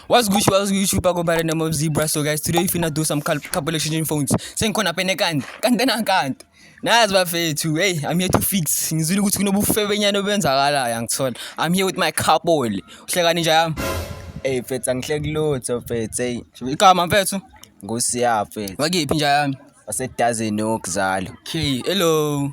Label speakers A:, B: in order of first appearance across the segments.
A: What's good, what's good, YouTube? I go by the name of Zebra. So, guys, today we finna do some cal couple exchanging phones. Saying, Kona Penekan, Kandana Kant. Nas bafethu, hey, I'm here to fix. Ngizwile ukuthi kunobufebenyana obenzakalayo angithola. I'm here with my couple. Uhlekani nje yami? Hey, mfethu
B: angihleki lutho mfethu. Hey, igama mfethu?
A: Ngosiya
B: mfethu. Wakiphi nje yami?
A: Wasedazini
B: okuzalo. Okay, hello.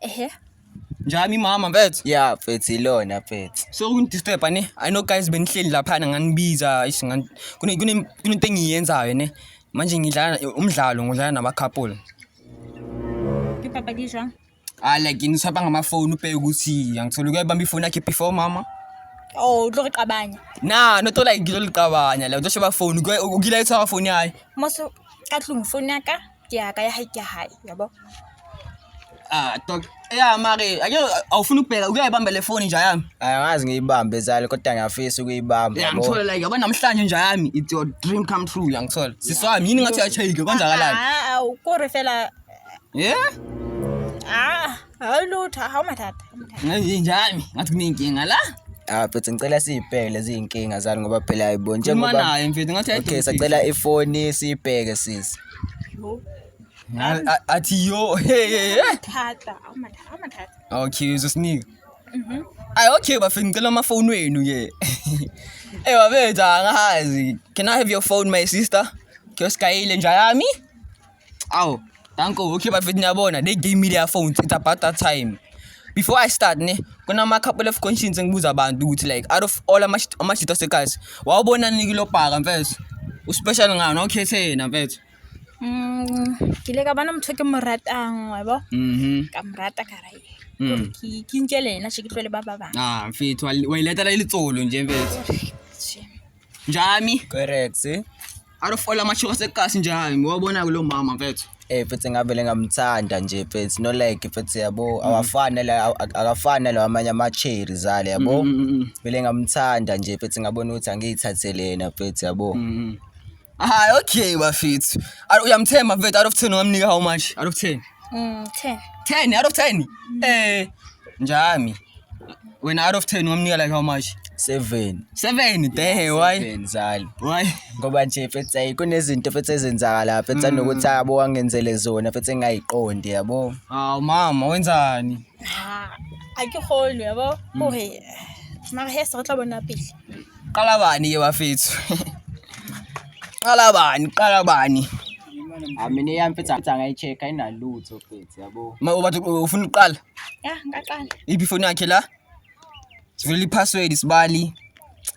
A: ehe
C: njani
A: mama mfethu ya mfethu ilona
B: mfethu so kungidisturba ne
A: i know guys benihleli laphana nganibiza ish ngan- kune- kune- kunento engiyenzayo ne manje ngidlala umdlalo ngidlala nama-couple
C: ke papadi e jwang ah like niswapa
A: ngamafoni ubheke ukuthi angithole kuyayibamba ifoni yakhe before mama o tlo re
C: qabanya na not like
A: ngizoliqabanya like uzosheba foni ukilayitha foni yayo moso ka
C: tlong phone ya ka ke ya ka ya
A: hae ke hae yabo Ah, dog. Yeah, mari. Ake awufuna ukubheka ukuyayibamba le phone nje yami. Angazi ngiyibambe
B: zali kodwa ngiyafisa ukuyibamba. Yeah, ngithola like yabo
A: namhlanje nje yami. It's your dream come true, ngiyangithola. Siswami yini ngathi uyachayike kwenzakalani? Ah, ukore fela.
C: Yeah?
A: Ah.
C: Hayi lutho, hawu mathatha. Ngathi njani?
A: Ngathi kunenkinga la. Ah, mfethu ngicela
B: siyibheke lezi inkinga zani ngoba phela ayibo Khuluma njengoba naye mfethu ngathi
A: Okay, ayidonsi. sacela
B: ifoni siyibheke sisi.
C: Nga- a-
A: Athi yo. Hey hey. hey. Thatha, hawu
C: mathatha, hawu mathatha. Okay, uzosinika.
A: Ay okay bafethu ngicela amafoni wenu ke. Eh babethu angazi. Can I have your phone my sister? Kyoskayile nja yami? Aw, danko okay bafethu niyabona they gave me their phones it's about that time before i start ne kunama-couple of conscience engibuza abantu ukuthi like out of all amashito asegazi wawubonani kilobhaka mfethu uspecial ngani okhethe yena mfethu mm,
C: ke ile ka bona motho ke mo ratang wa bo mhm. ka mo rata ka ra mm. ke ntšele ena še ke tlole ba ba bang ah, mfethu wa
A: iletela e letsolo nje mfethu njami correct
B: eh? arofola
A: amashoka sekukasi njani ngowabona-ke lo mama mfethu eh futhi ngavele
B: ngamthanda nje futhi no like futhi yabo mm. awafani la akafani nalawa amanye ama-cherry zale yabo mm, mm, vele ngamthanda nje futhi ngabona ukuthi angiyithathele yena futhi yabo hayi
A: okay bafethu uyamthemba mfethu out of ten ungamnika how much out of ten ten
C: ten out of ten
A: um njami Wena out of 10 wamnika like how much? 7.
B: 7 dehe
A: why? 7 zali.
B: Why? Ngoba
A: nje fethu
B: ay kunezinto fethu ezenzaka la fethu mm. nokuthi abo wangenzele zona fethu engayiqondi yabo. Aw mama
A: wenzani? Ah,
C: Akihoni yabo. Mm. Ohe. Mara he sa tla bona pele. Qala bani
A: ye bafethu? Qala bani? Qala bani? Amine
B: yami fethu angayicheck ayinalutho fethu yabo. Ma ubathi ufuna
A: uqala? Ya, ngaqala.
C: Iphi ifoni yakhe la?
A: Sivulile i-password sibali.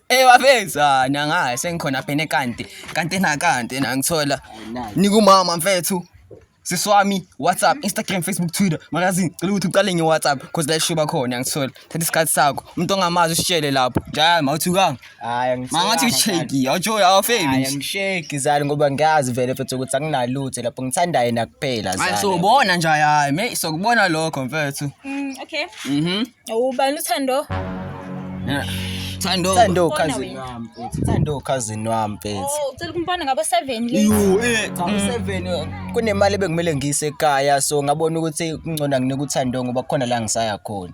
A: Eh waveza nangaye sengikhona phene kanti kanti na kanti na ngithola nikumama mfethu siswami WhatsApp Instagram Facebook Twitter magazine cela ukuthi uqale nge WhatsApp cause la ishuba khona ngithola thatha isikhathi sakho umuntu ongamazi usitshele lapho njalo mawuthukanga Hayi Mangathi usheki, awujoyi awufeli. Hayi ngisheki zani
B: ngoba ngiyazi vele mfethu ukuthi anginalutho lapho ngithanda yena kuphela zani. Hayi sobona nje hayi,
A: me sokubona lokho mfethu. Mm okay.
C: Mhm. Ubani uthando? Yeah. Thando.
B: Thando cousin wami mfethu. Thando cousin wami mfethu. Oh, ucela kumbona ngabo 7
C: late. Yo, eh, cha 7 mm.
B: kunemali ebekumele ngiyise ekhaya so ngabona ukuthi kungcona nginike uthando ngoba khona la ngisaya khona.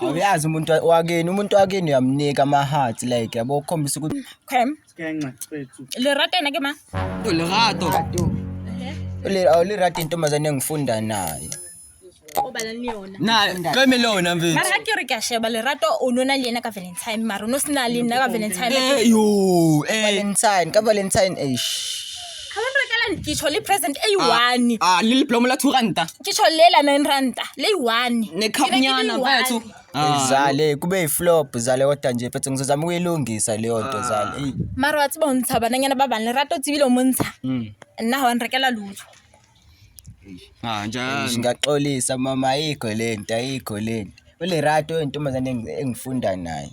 C: awuyazi umuntu
B: wakini umuntu wakini uyamnika ama-heart like yabo ukhombisa ukuthi okay
C: lirato yena ke ma
A: lirato
B: lirato intombazane engifunda nayo
C: naqeme lona
A: mfetmara ga ke re ka sheba
C: lerato o no na le ena ka valentine mara o no se na le nna ka valentine eh, eh.
B: valentine
A: ka
B: valentine
C: ash ga le rekela nkitsho le present e one a le leblomo la two
A: ranta kitsho le la nine
C: ranta le one nekhapnyana
A: mfethu Ah. zale
B: kube iflop zale kodwa nje phethe ngizozama ukuyilungisa leyo nto ah. zale eyi mara wa tsiba o ntsha
C: bananyana ba bane rata o tsebile o mo ntsha hmm. nna ga wa nrekela lutho
A: ah, ngingaxolisa mama
B: ayikho le nto ayikho le nto ulerato intombazane engifunda naye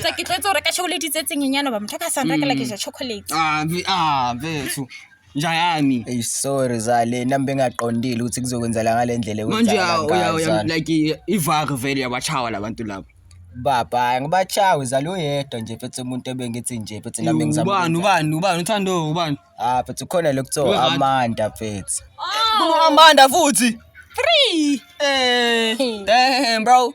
C: Tsa ke tletse hore ka chocolate tse tsenyenyane ba motho ka sa nrakela ke ja chocolate. Ah, mfi- ah,
A: mfethu. Nja yami. Ey sorry
B: zale nami bengaqondile ukuthi kuzokwenzela ngalendlela Manje uya uya uya
A: ekwenzakala like
B: ivari
A: vele yabachawa labantu labo. baba
B: ngibachawe zalo yedwa nje phethe umuntu ebengithi nje phethe nami Ubani ngizama ubani ubani uthando
A: ubani. ah phethe khona lokuthiwa
B: Uyi-right. Amanda phethe Oh, Amanda
A: futhi.
C: three.
A: Eh, damn bro.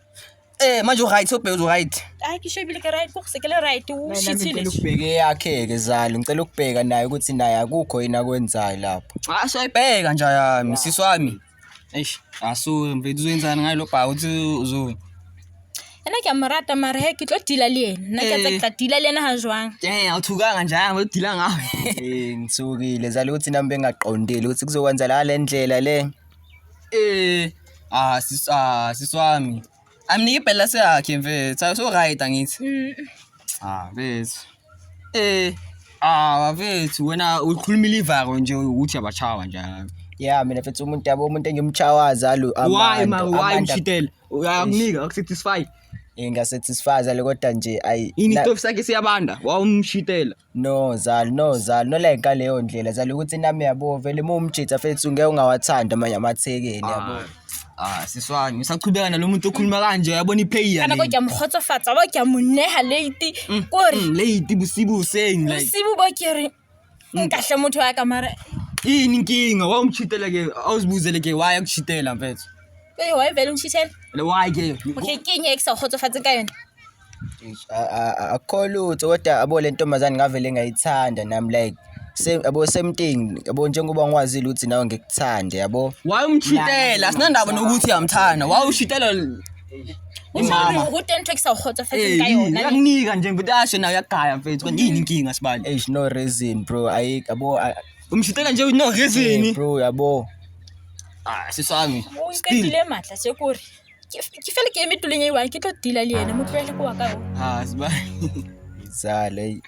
A: Eh manje uright sobheka uright. Hayi kishebile ke right
C: kukhuse ke le right ushithile. Ngicela ukubheka yakhe
B: ke zalo ngicela ukubheka naye ukuthi naye akukho yini akwenzayo lapho. Ah soyibheka nje
A: yami sisi wami. Eish asu mfethu uzoyenzani ngayo lo bha uthi uzo Yena
C: ke amarata mara he ke tlo dila le yena. Nna ke tsa eh. dila le yena ha jwang. Eh awuthukanga nje
A: hamba udila ngawe. Eh ngithukile
B: zalo ukuthi nami bengaqondile ukuthi kuzokwenzala le ndlela le. Eh ah sis
A: ah sis wami. Amnike ibhela seyakhe mfethu. Ayi so right angithi. Mm. Ah bethu. Eh ah bethu wena ukhulumile ivako nje ukuthi abachawa njalo. Yeah mina mfethu umuntu
B: yabo umuntu engimchawaza lo Why ma why mshitela?
A: Uyakunika akusatisfy. Ingasatisfy
B: le kodwa nje ayi. Ini stove sakhe
A: siyabanda wawumshitela. No zal
B: no zal no like ngaleyo ndlela zal ukuthi nami yabo vele uma umjitha fethu ngeke ungawathandi amanye amathekeni yabo Ah, ah siswani
A: usachubeka nalomuntu okhuluma kanje yabona iplayer kana ko le ke a mo kgotsofatsa
C: ba ke a mo neha late ko re Mm, late bosibu
A: useng like bosibu bo ke re
C: nkahle motho wa ka mara ini inkinga
A: wa umchitela ke awuzibuzele ke why akuchitela mfethu e wa vele
C: ngishithela le why ke
A: okay ke eng e ke sa
C: kgotsofatseng ka yone akukho
B: lutho kodwa abo le ntombazane ngavele ngayithanda nami like yabo semting yabo njengoba ngiwazile ukuthi nawe ngikuthande yabo wayumshitela
A: asinandaba nokuthi uyamthanda wawushitela
C: imama ukuthi into ekusawukhotha futhi ngayona yakunika nje ngibuthi asho
A: nayo yagaya mfethu kanti yini inkinga sibali eish no reason bro
B: ayi yabo umshitela nje
A: no reason bro yabo
B: ah
A: sisami uyiqedile
C: madla sekuri Ke f- ke fele ke eme tulong e one ke tlo tila le ene mo tlohele ko wa ka o Ah, siba.
A: Zala
B: hey.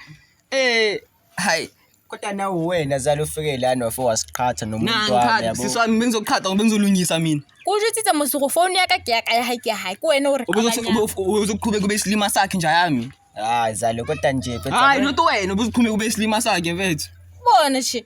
A: Eh, hi. Kodwa
B: nawe wena zala ufike lana wafe wasiqhatha nomuntu wami Nangikhathi yabo. sisi wami bengizoqhatha ngoba
A: bengizolungisa mina. ko o jetsitsa mosego
C: founu ya ka ke ya ka ya gae ke ya gae ke wena o re Ubuzothi qabanyang. ube- ube- ubuzoqhubeka
A: ube isilima sakhe nje yami. Hayi zala kodwa
B: nje Hayi kodwa. not wena
A: ubuzoqhubeka ube isilima sakhe mfethu. bone she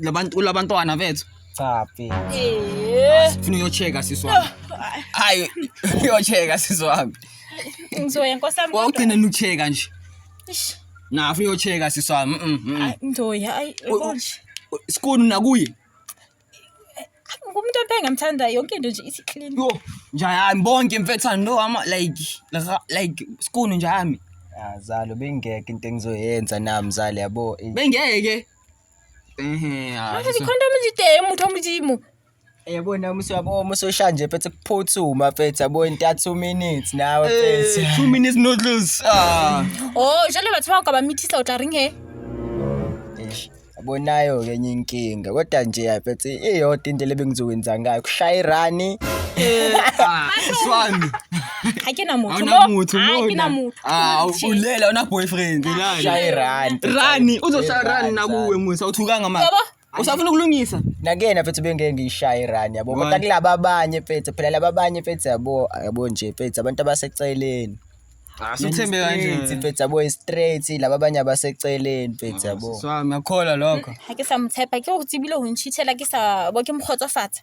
A: labantu kulabantwana bethu cha bhe Eh. funa uyocheka sisi wami hayi uyocheka sisi wami Ngizoya
C: nkosi yami. kodwa. wawugcine nucheka
A: nje Eish, na funa uyocheka sisi wami mm, mm. ay, Ngizoya
C: ayi U- u- yabo nje.
A: sikuni nakuye Ngumuntu
C: emphe ngamthanda yonke into nje ithi clean. yo njayami
A: bonke mfethane no ama like la- like sikuni njayami azalo
B: bengeke into engizoyenza nami zali yabo Eh, bengeke
C: manje zikhondomu zideye muthu omuzimu yabona
B: umusi wabo uma usosha nje phethe kuphuthuma phethe yabo inta 2 minutes nawe phethe 2 minutes noodles
C: ah oh jalo bathiwa ugaba mithisa utla
A: ring
C: he abonayo
B: ke enye inkinga kodwa nje yaphethe iyodwa into lebengizokwenza ngayo kushaya irani eh swami
A: ga ke na motho
C: Hauna mo. motho Ai, ke na mona.
A: motho Ah,
C: Shit. ulela
A: una
C: boyfriend.
A: Ulala. Shaya irani.
B: rani uzoshaya
A: rani nakuwe musa uthukanga manje Yabo? usafuna ukulungisa Nakena mfethu bengeke
B: ngiyishaye irani yabo. Why? Kodwa kulaba abanye
A: mfethu
B: phela laba abanye mfethu yabo yabo nje mfethu abantu abaseceleni. asithembe
A: Straight, kanje mfethu yabo straight
B: laba abanye abaseceleni mfethu yabo. swami ngakholwa lokho
A: ga ke sa motshepa ke
C: go tsebile go ntšhitshela ke sa bo ke mokgotsofatsa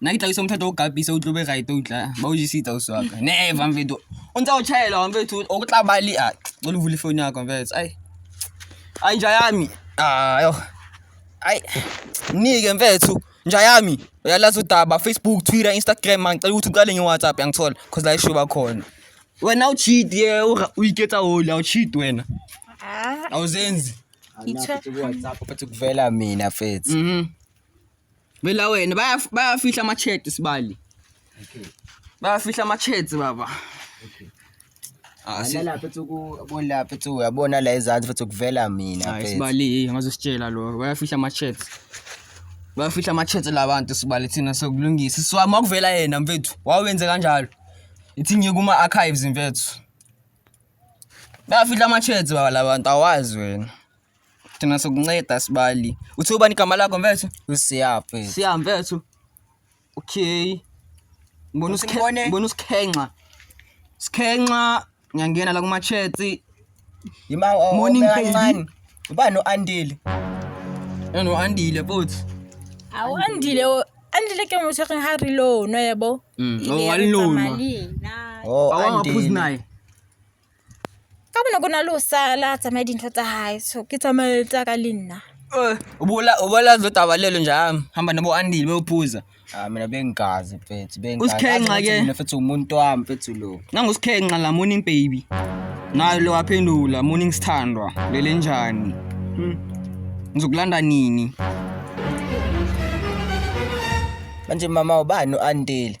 A: nna ke tlaiso motho o kapise o tlobe right o tla ba o jesitsa o swaka never mfetho o ntse o chaela wa mfetho o tla ba le a o le vule phone ya ka mfetho ai ai nja yami ayo ai nike mfetho nja yami uyalazi udaba facebook twitter instagram mangicela ukuthi uqale ngewhatsapp yangithola cause la isho bakhona wena ucheat ye uyiketsa hole awucheat wena ah. awuzenzi ngithe
B: kuwhatsapp bathi kuvela mina mfethu mhm
A: Vela wena bayaf- bayafihla ama-chat sibali Okay. bayafihla ama-chat baba Okay. Ah, si-
B: Lala lapha tsuku bona lapha tsuku uyabona la ezansi futhi ukuvela mina Hayi mfethu. sibali
A: ngazositshela lo bayafihla ama-chat bayafihla ama-chat la bantu sibali thina sokulungisa siwami wakuvela yena mfethu wawenze kanjalo ithi ngiye kuma-archives mfethu bayafihla ama-chat baba la bantu awazi wena Thina sokunceda sibali. Uthi ubani igama lakho mfethu? Usiya mfethu. Siya
B: mfethu.
A: Okay. Ngibona usikhenxa, ngibona usikhenxa. Sikhenxa ngiyangena la kuma chats. Yima
B: oh, morning kancane. Uba no Andile.
A: Eno Andile futhi. Awu
C: Andile oh, Andile ke muthe ke ha reload no yebo. Mm. Oh walilona.
A: Oh Andile. Awangaphuzi naye.
C: Ka bona ke na le ho sala tsamaye dintho tsa hae so ke tsamaye tsa ka le nna. Ubula ubala
A: zodaba lelo nje hhayi hamba nobo andile beyophuza. Hhayi mina bengigazi
B: mfethu bengigazi. Usikhenxa ke. Mina
A: mfethu umuntu wami
B: mfethu lo. Nangusikhenxa la morning
A: baby. Nayo lo waphendula morning sithandwa lele njani. Hmm. Ngizokulanda nini?
B: Manje mama ubani u-Andile?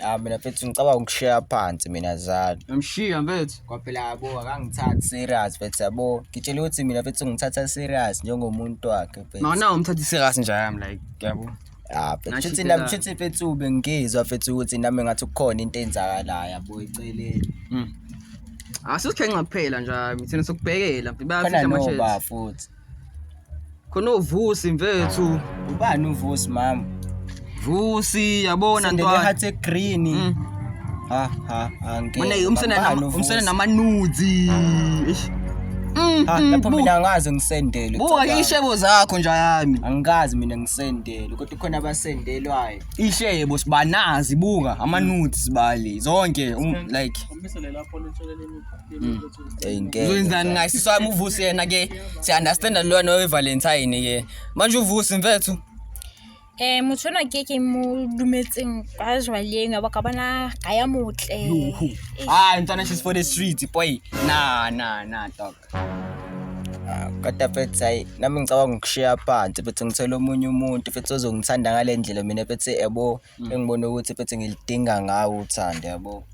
A: ya ah, mina mfethu
B: ngicabanga ukushiya phansi mina zalo ngamshiya mfethu
A: kwaphela yabo
B: akangithathi serious mfethu yabo ngitshela ukuthi mina mfethu ngithatha serious njengomuntu wakhe mfethu mana umthatha serious
A: njayam like yabo ah, futhi
B: nami futhi mfethu bengizwa mfethu ukuthi nami ngathi kukhona into enzakalayo yabo eceleni
A: hmm. asizikhenxa ah, kuphela nje thina sokubhekela bayafitha manje futhi khona uvusi mfethu ubani uvusi
B: mama vusi
A: yabona ntwana hathe green
B: mm. ha ha angeke umsana
A: umsana namanuzi eish Mm, ah,
B: mm, lapho mina angaze ngisendele buka ishebo
A: zakho nja yami angikazi mina
B: ngisendele kodwa khona abasendelwayo ishebo
A: sibanazi buka ama nudes bali zonke um, like
B: uzoyenzani ngaye sisi wami
A: uvusi yena ke siya-understanda lona wevalentine ke manje uvusi mfethu um
C: motho ona ke ke mo dumetseng kwa jwaleng ba ka bona ga ya motle hayi mntwana
A: she's for the street boy na na na dog
B: Ah, kodwa fethi hayi nami ngicabanga ukushiya phansi fethi ngithole omunye umuntu fethi ozongithanda ngale ndlela mina fethi yabo engibona ukuthi fethi ngilidinga ngawo uthando yabo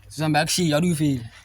B: sizihamba
A: yakushiya luyifile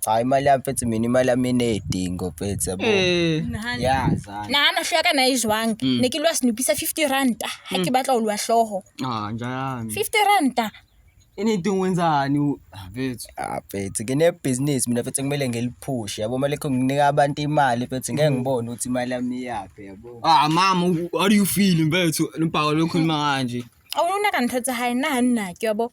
B: cha
A: imali yami mfethu
B: mina imali yami inedingo mfethu yabo Eh. nahana yazana nahana hlo ya ka na
C: e jwang Mm. ne ke lwa senopisa 50 ranta ha ke batla ho lwa hlooho Ah, njani.
A: 50 ranta
C: Anything
A: wenzani u- Ah, mfethu. Ah, mfethu
B: nginebhizinisi mina mfethu kumele ngiliphushe yabo mali kho nginika abantu imali mfethu ngeke ngibone ukuthi imali yami iyaphi yabo Ah, mama, u- how
A: do you feel mfethu? Lubhaka lokhuluma kanje. awulunaka ntho tsa
C: hae nna ha nna ke yabo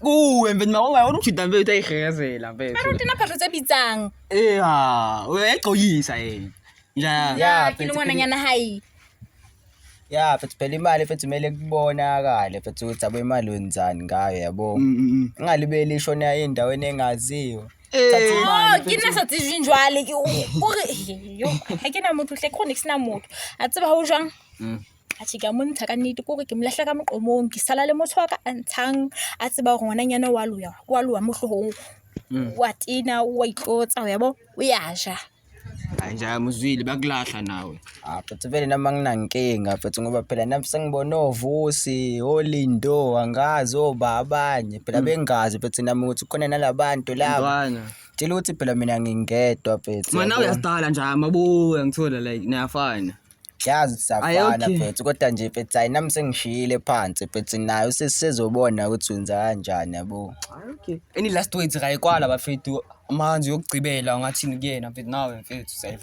C: Kuwe
A: mfethu mawonga wona ukujida mfethu ayigezela mfethu. Mara uthi naphatho tse bitsang.
C: Eh ha,
A: uyayigcoyisa yena. Nja. Ya, ke
C: mfethu, ngwana nyana hayi.
B: Ya, mfethu phela imali mfethu kumele kubonakale mfethu ukuthi abo imali wenzani ngayo yabo. Mm, mm, mm. Ingalibeli ishona endaweni engaziwa. Oh,
C: ke nna sa tsejwe jwale ke o re yo ha ke na motho hle chronic sna motho a tseba ho jwang atjhe ke a mo ntsha ka nnete kore ke mo lahla ka moqomong ke sala le motho wa ka a ntshang a tseba gore ngwananyana wa loya wa loa mo tlhogong mm. wa tena wa itlotsa yabo o ya ja nja
A: muzwile bakulahla nawe aphethe ah, vele noma
B: nginankinga aphethe ngoba phela nami sengibona ovusi olindo angazi oba abanye phela hmm. bengazi aphethe nami ukuthi khona nalabantu laba tshela ukuthi phela mina ngingedwa aphethe manawe uyazidala nje
A: amabuya ngithola like niyafana Yazi
B: siyafana mfethu kodwa nje mfethu hayi nami sengishiyile phansi mfethu nayo sesizobona ukuthi wenza kanjani yabo. Okay. Any last
A: words kayikwala bafethu amanzi yokugcibela ungathini kuyena mfethu nawe mfethu sayiva.